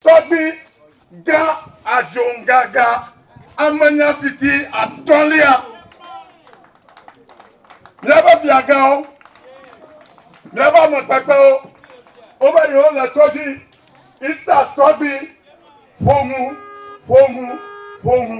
Tɔgbi gã Adjongaga amenyafiti atɔ̃lia. Míaƒe fiagãwo, míaƒe ame kpekpewo, wova yi wole to dzi ita tɔgbi ƒoŋu, ƒoŋu, ƒoŋu.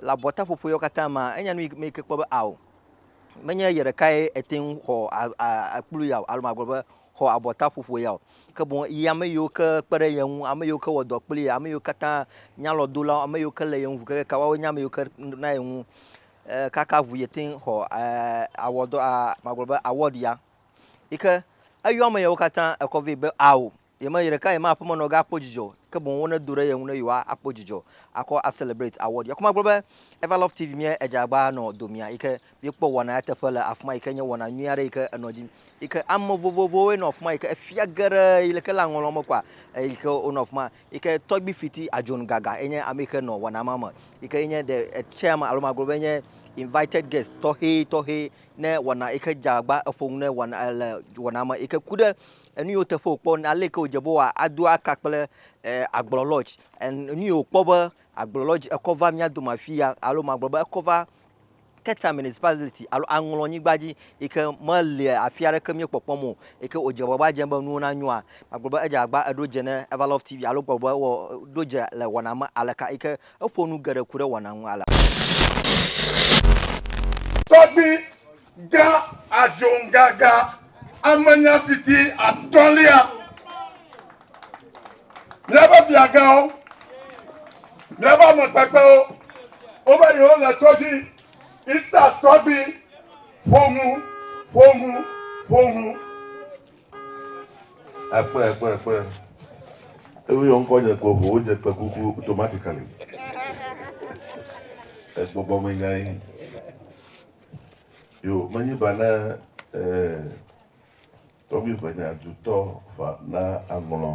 Le abɔtaƒoƒo yawo katã mea, enya nu me yi ke kpɔ be ao, menye ye ɖekae ete ŋu xɔ akplu ya o, alo magblɔ be xɔ abɔtaƒoƒo ya o, ke boŋ yi ame yiwo ke kpe ɖe ye ŋu, ame yiwo ke wɔ dɔ kpli ye, ame yiwo katã nyalɔdolawo, ame yiwo ke lé ye ŋu kekekaa, woawoe nye ame yiwo ke na ye ŋu kaka ŋu yi te ŋu xɔ awɔdɔ, magblɔ be award ya. Yi ke eyɔ ame yawo katã ekɔ vɛ be ao, Ye me ɖeka ye ma aƒeme nɔ ga kpɔ dzidzɔ o, ke boŋ wo ne do ɖe ye ŋu ne yewoa a kpɔ dzidzɔ a kɔ a celebrate award ya. Ku ma gblɔ be Ever Love TV mía edze agba nɔ domea yi ke mí kpɔ wɔna ya teƒe le afima yi ke nye wɔna nyui aɖe yi ke enɔ dzi yi ke ame vovovowoe nɔ afima yi ke efia geɖe yi le ke le aŋɔlɔ me kɔa eyi ke wonɔ afima yi ke tɔgbi fiti Ajohn Gaga ye nye ame yi ke nɔ wɔna ma me yi ke ye nye the chairman alo ma gblɔ be nye invited guest tɔxɛ tɔxɛ ne wɔna yi ke dze agba eƒo nu ne wɔna le wɔna me yi ke ku ɖe Enu yiwo teƒe wòkpɔ, aleke wòdze be wòa ado aka kple agblɔ lɔ dzi. Enu yi wòkpɔ be agblɔ lɔ dzi ekɔ va mía dome afi ya alo magblɔ be ekɔ va Keta Municipality alo Aŋlɔ nyigba dzi yi ke mele afi aɖeke mía kpɔkpɔm o yi ke wòdze agbagba dzem be nuwo nanyoa, magblɔ be edze agbagba eɖo dze ne Everlove TV alo gblɔ be wɔ ɖo dze le wɔna me aleka yi ke eƒo nu geɖe ku ɖe wɔna ŋu alea. Tɔgbi Ga Adjongaga, amenyafiti atɔ̃lia. Míaƒe fiagãwo, míaƒe ame kpekpewo, wova yi wo le tɔdzi, ita tɔgbi, ƒoŋu, ƒoŋu, ƒoŋu. Ekpe, ekpe, ekpe. Ewu yɔ ŋkɔ nye ko ƒo, wodze kpe kuku automatically. Egbɔgbɔ me nyae. Yo, menyi ba ne eh, tɔgbi ʋenya dutɔ fa na aŋlɔ.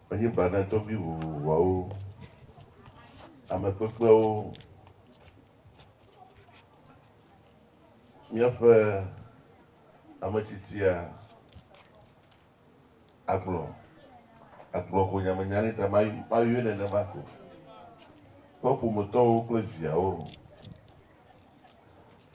Menyi ba ne tɔgbi vovovoawo, ame kpekpewo, míaƒe ame tsitsia, Agblɔ, agblɔ ko nyamenya nɛ ta ma, mayɔe nenema ko. Eƒe ƒometɔwo kple viawo.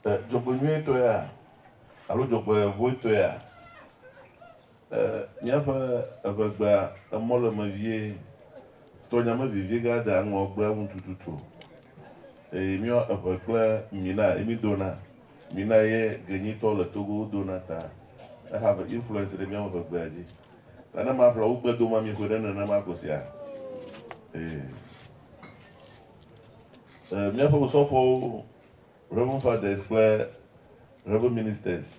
E, dzɔgbenyuietɔea, alo dzɔgbevɔ̃etɔea, e, míaƒe evegbea, emɔ le eme vie, tɔ nya me vevie gake adea ŋɔ gbea ŋu tututu o. Eye míɔ eŋe kple mi na, ye mi dɔna. Mina ye genyitɔ le Togo wo dona ta ehave influence ɖe miawo ƒe gbea dzi. Ta ne maƒle wo gbe doma mi ƒe ɖe nenema ko sia? Ee. E, miaƒe osɔfowo, Reverend Fathers kple Reverend Ministers,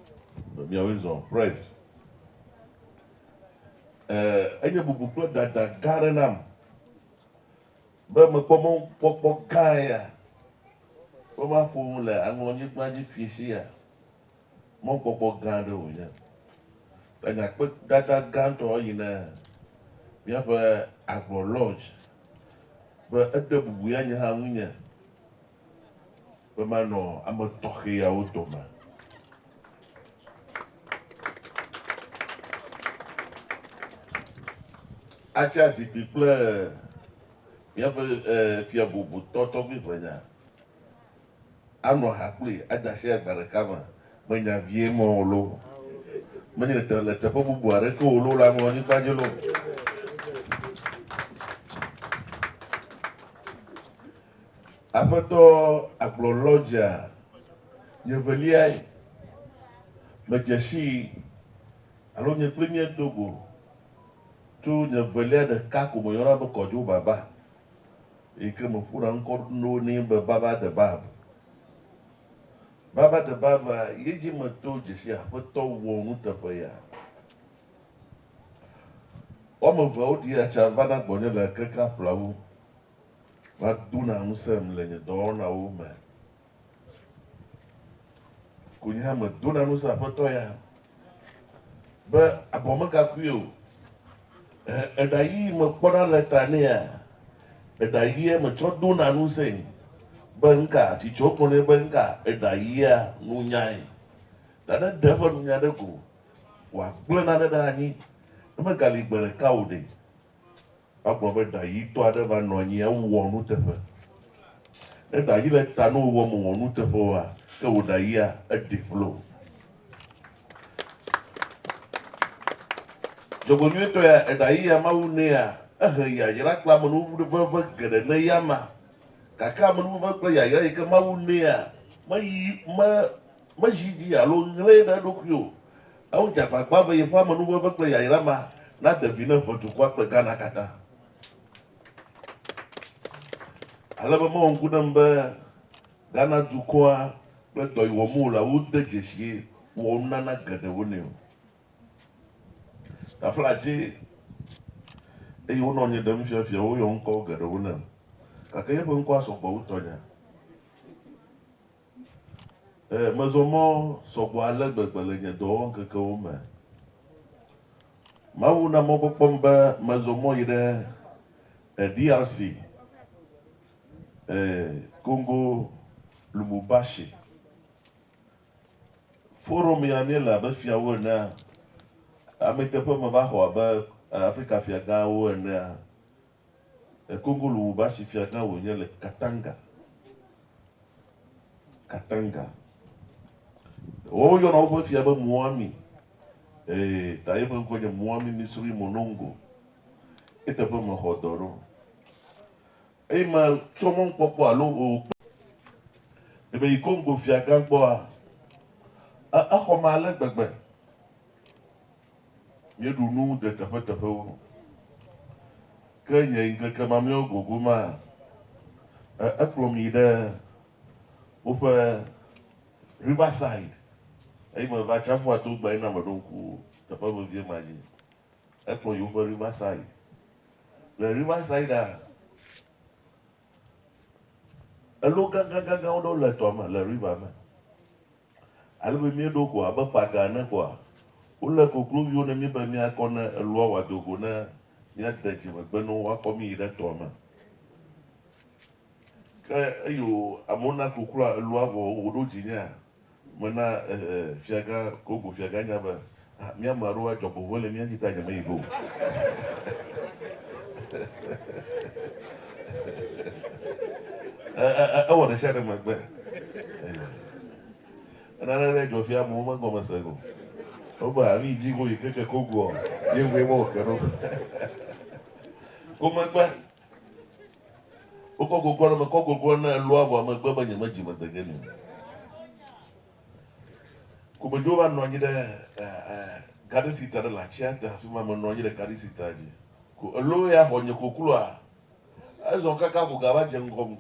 miawoe zɔ. Press. E, enye bubu kple dada gã aɖe nam. Be mekpɔ mɔkpɔkpɔ gã ya be maƒo nu le aŋlɔnyigba dzi fiesiea, mɔkpɔkpɔ gã aɖe wònye. Le nye akpedada gãtɔ eyi ne míaƒe agblɔ Lodge be ede bubu ya nye hã ŋunye. be manɔ ame tɔxɛ yawo dome. Atsa zikpui kple míaƒe fia bubutɔ tɔgbui ʋenya, anɔ ha kpli, ade asi agba ɖeka me. Menya vie me o loo, menye le teƒe bubu aɖeke o loo le aŋlɔnyigba dzi loo, Aƒetɔ agblɔ lɔdzea nye veliae, medze sii alo nye kple nye do go tso nye velia ɖeka ko meyɔna be kɔdjo baba eyi ke meƒona ŋkɔ ɖo nɛ be baba de bab. Baba de bab a ye dzi meto dzesi aƒetɔ wɔ nuteƒe ya. Woame eveawo ɖia tsa vana gbɔnye le kekeaƒlawu Madona ŋusẽm le nye dɔwɔnawo me. Ko nye hã medona ŋusẽ Aƒetɔ ya be abɔ megakui o. Ẽ, eɖayii mekpɔna le ta nɛa? Eɖayia metsɔ dona ŋusẽe be ŋka tsi tso kpɔ nɛ be ŋka eɖayia nunyae. Ta ne ɖe eƒe nunya ɖe ko wòagblẽ nane ɖe anyi, ne megali gbe ɖeka o ɖe? Egblɔ be ɖa ɣitɔ aɖe va nɔ anyi hafi wowɔ nuteƒe. Ne ɖa ɣi le ta nɔ wò mèwɔ nuteƒe oa, ke wò ɖa ɣia, eɖi vlo. Dzɔgbenyuitɔea, eɖa ɣi ya Mawu nɛa, ehe yayra kple amenuveve geɖe na eyama. Gake amenuveve kple yayra yi ke Mawu nɛa, meyi, me, mezi edzi alo ŋlɛe ɖe eɖokui o. Ewdze agbagba be yeƒe amenuveve kple yayra ma naɖe vi na ʋe dukɔa kple Ghana katã. Ale be mewɔ ŋku ɖem be Ghana dukɔa kple dɔ yi wɔm wòle la, wode dzesi wɔ nunana geɖewo nɛ o. Taflatse, eye wonɔ nye ɖem fiafia woyɔ ŋkɔ geɖewo nam. Gake yeƒe ŋkɔa sɔ gbɔ wu tɔnyea. Ɛɛ, mezɔ mɔ sɔ gbɔ ale gbegbe le nye dɔwɔŋkekewo me. Mawu na mɔkpɔkpɔm be mezɔ mɔ yi ɖe DRC, ɛɛ, Congo, Lumumbashi. Forum ya míele abe fiawo enea, amɛteƒe meva xɔ abe Afrika fiagãwo enea. Ekogolo Wubashi fiagã wònye le Katanga, Katanga. Woyɔna woƒe fia be Muami, ee, ta yeƒe ŋkɔ nye Muami Misri Monongo. Eteƒe mexɔ dɔ ɖo. Eyi me tsɔ mɔnukpɔkpɔ alo o kple. Ne meyi Kongo fiagã gbɔa, e, exɔm ale gbegbe. Míeɖu nu de teƒeteƒewo, ke nye ŋkeke mamlɛawo gogo ma, e, ekplɔm yi ɖe woƒe Riverside, eye meva Atsiaƒua to gbea yi na meɖo ŋku teƒe vevie ma dzi. Ekplɔm yi woƒe Riverside. Le Riversidea, elo gãgãgãgãwo ɖewo le tɔa me, le river me. Ale be míeɖo ko abe paga ene koa? Wolé kokloviwo ne mí be míakɔ ne elua wòado go ne míade dzi megbe ne woakɔ mí yi ɖe tɔa me. Ke eyo amewo na kokloa elua vɔ wòɖo dzinyea? Mena ehe fiagã Kongo fiagã nya be, Ah, mía ame aɖewo adzɔgbevɔ̃e le mía dzi ta nyemeyi ge o. E- e- e- Ewɔ ɖe sia ɖe megbe. Eh, Nane ɖe dzɔ fia amewo megɔme se go. Wobe ah, nu yi dzi go yi keke ko goɔ, yeŋue mɔ wòke ɖo. Ko megbe. Wokɔ gogoa ɖe me, kɔ gogoa ne elua vɔa megbe be nyemedzi mede ge nɛ o. Gomedzowo va nɔ anyi ɖe Garden City aɖe le atsia te, afi ma menɔ anyi ɖe Garden City dzi ko elo ya xɔ nye kokloa. Ezɔ kaka ko gava dze ŋgɔm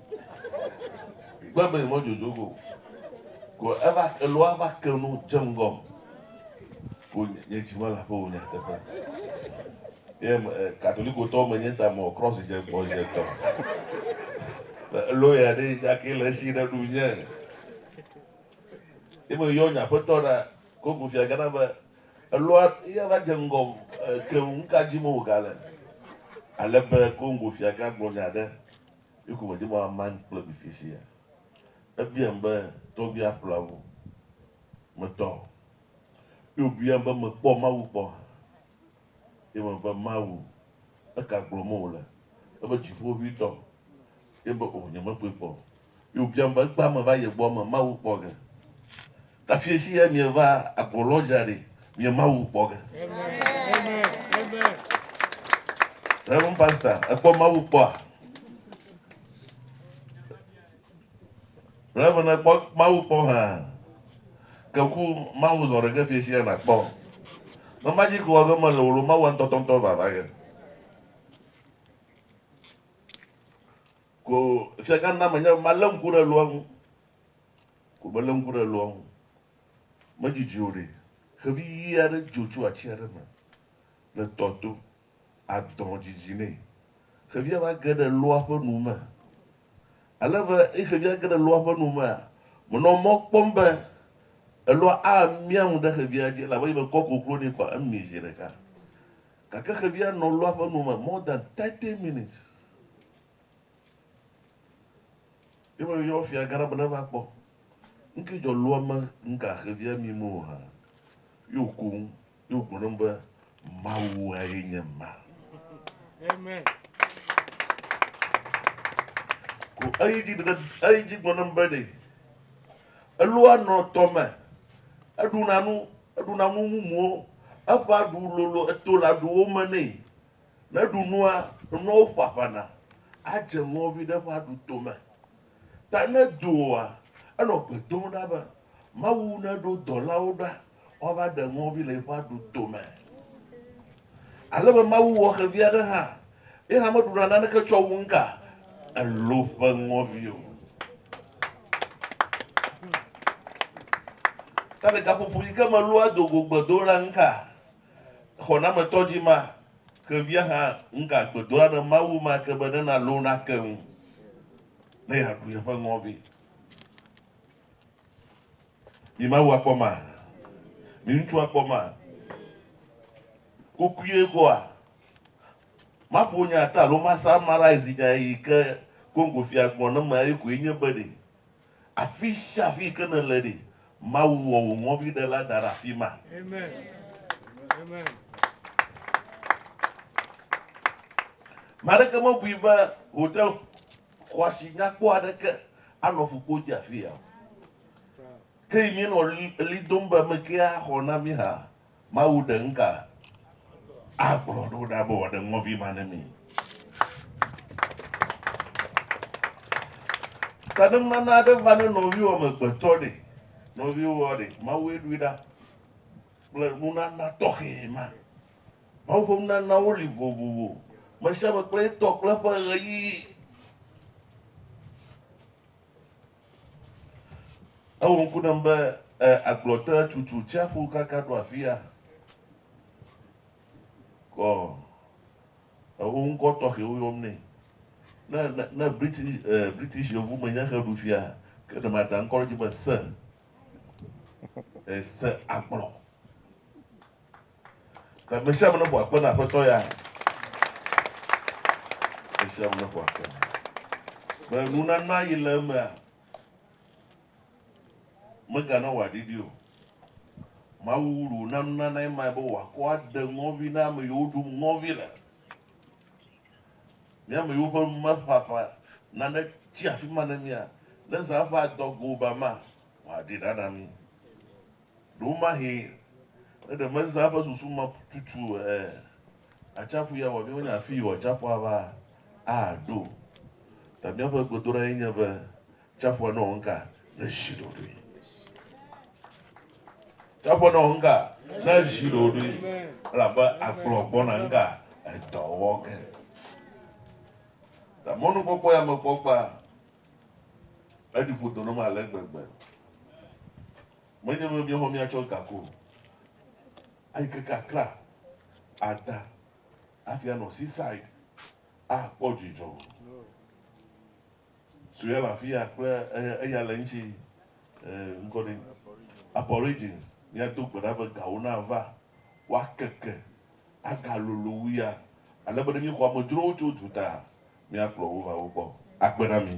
gbe be yemɔ dzodzo go ko eva eloa va ke nu dze ŋgɔm ko nye dzi mele aƒe o nyateƒe. Ye katolikotɔ menye ta mɔ cross dze gbɔ dze tɔ. Elo ya ɖe dza ke le esi ɖe ɖu nye. Ye meyɔ nye aƒetɔ ɖa koŋ fia gana be, Elɔa ya va dze ŋgɔm keŋ, nu ka dim wògale? Ale be koŋ fia gã gblɔ nya aɖe yi ko medi be wòamam kple mi fifia. Ebiam be, Tɔgbui Aplavu, metɔ? Ye wòbiam be, Mekpɔ Mawu kpɔ hã? Ye me be, Mawu, eka gblɔm wòle? Ebe, Dziƒoʋĩtɔ. Ye be, O, nyemekpɔe kpɔ o. Ye wòbiam be, Egbea meva ye gbɔ me Mawu kpɔ ge? Tafiesi ye mieva agbo lɔ dzra ɖi mie Mawu kpɔ ge? Rev. Pastor, èkpɔ Mawu kpɔa? Ele be nèkpɔ Mawu kpɔ hã. Ke ku Mawu zɔ ɖeke fiẽ sia nàkpɔ. Ne magic wɔ ge mele o lo, Mawua ŋutɔtɔŋutɔ va va ge. Ko fiagã na menye be malé ŋku ɖe loa ŋu. Ko melé ŋku ɖe loa ŋu. Medidi o ɖe. Xevi ʋi aɖe dzo tso ati aɖe me le tɔ to. adɔ dzidzi nɛ. Xevia va ge ɖe loa ƒe nu me. Ale be eye xevia ge ɖe loa ƒe nu mea, menɔ mɔ kpɔm be eloa amia nu ɖe xevia dzi elabe ebe kɔ koklo nɛ kɔa, emi zi ɖeka. Gake xevia nɔ loa ƒe nu me more than thirty minutes. Ye me yɔ fia gã la be neva kpɔ nuke dzɔ loa me nuka xevia mi me o hã. Ye wòku nu. Do gbe ɖom be, Mawu aye nye ma. Ko eyi dzi ɖe eyi dzi gbe ɖom be ɖe elua nɔ tɔ me, eɖuna nu, eɖuna nu mumuwo, eƒa ɖu lolo eto la ɖuwo me nɛ. Ne ɖu nua, nuawo ƒaƒana adze nuɔvi ɖe ƒa ɖu to me. Ta ne do oa, enɔ gbe dom ɖa be Mawu neɖo dɔlawo ɖa woava ɖe ŋɔvi le eƒe aɖu dome. Ale be Mawu wɔ xevi aɖe hã, ye hã meɖuna naneke tsɔ wu nuka? Elo ƒe ŋɔvi o. Ta ɖekaƒoƒo yi ke melua do go gbedoɖa nuka? Xɔnametɔ dzi ma ke via hã ŋga gbedoa ɖe Mawu ma ke be ne na lo na ke ŋu ne ya ɖu yeƒe ŋɔvi. Mi Mawu akpɔ ma, mi ŋutsu akpɔ ma. Kokuie koa, ma ƒo nya ta lo ma samarai zinya yi ke Congo fia gbɔ ne me ayi koe nye be ɖe Afisiafi yike nèle ɖi, Mawu wɔ wò ŋɔviɖela da ɖe afima. Ame aɖeke mebui be hotel xɔasi nyakpɔ aɖeke anɔ ƒukpo dzi afia o. Ke yi míenɔ ɣli dom be, Mekee axɔ na mí hã? Mawu ɖe ŋka agblɔ ɖo ɖa be wòaɖe ŋɔvi ma ne mi. Taɖenunana aɖe va ne nɔviwò amegbetɔ ɖe, nɔviwòa ɖe, Mawue ɖoe ɖa kple nunana tɔxɛ ma. Mawu ƒe nunanawo li vovovo, mesiame kple etɔ kple eƒe ɣeyiɣi. Ewɔ ŋku ɖem be, Ẽ, agblɔ te tutu tsiaƒu kaka ɖo afia. Kɔ ewo ŋkɔ tɔxɛwo yɔm nɛ. Ne, ne, ne British, ẽ, British yevumenye xe ɖu fia, ke ɖe mada ŋkɔ ɖe edzi be Sir. Ẽ, Sir agblɔ. Le me sia me ne ƒo akpe na Aƒetɔ ya. Me sia me ne ƒo akpe na. Be nunana yi le emea, megana wòaɖiɖi o. Mawu wu wòna nunanae mae be wòakɔ aɖe ŋɔvi na ame yiwo ɖum ŋɔvi le. Mi ame yiwo ƒe nu meƒaƒã nane tsi afi ma ne mia, ne zã ƒe adɔgo ba ma, wòaɖi ɖa na mi. Ɖewomahee ne ɖe mezã eƒe susu me tutu e, atsiaƒu ya wòabia wonye afii wɔ atsiaƒua va aɖo. Ta míaƒe gbedoɖae nye be tsiaƒua nawɔ nuka? Nazi ɖoɖoe. Tsiaƒua nawɔ nuka? Nazi ɖoɖoe. Elabe agblɔ gbɔna nuka? Edɔwɔge. Ta mɔnukpɔkpɔ ya mekpɔ kpa Eɖi ƒo do na mí ale gbegbe. Menye be míexɔ mía tsɔ ga ko o. Ayi keke Accra, ada hafi anɔ Seaside akpɔ dzidzɔ. Sue le afi ya kple eya le eŋuti, ŋkɔ ɖee, Aborigines. Míado gbe ɖa be gawo nava woakeke. agalolo wu ya, ale be ne míexɔ amedzrowo tso duta, míakplɔ wo va wo gbɔ. Akpe na mí.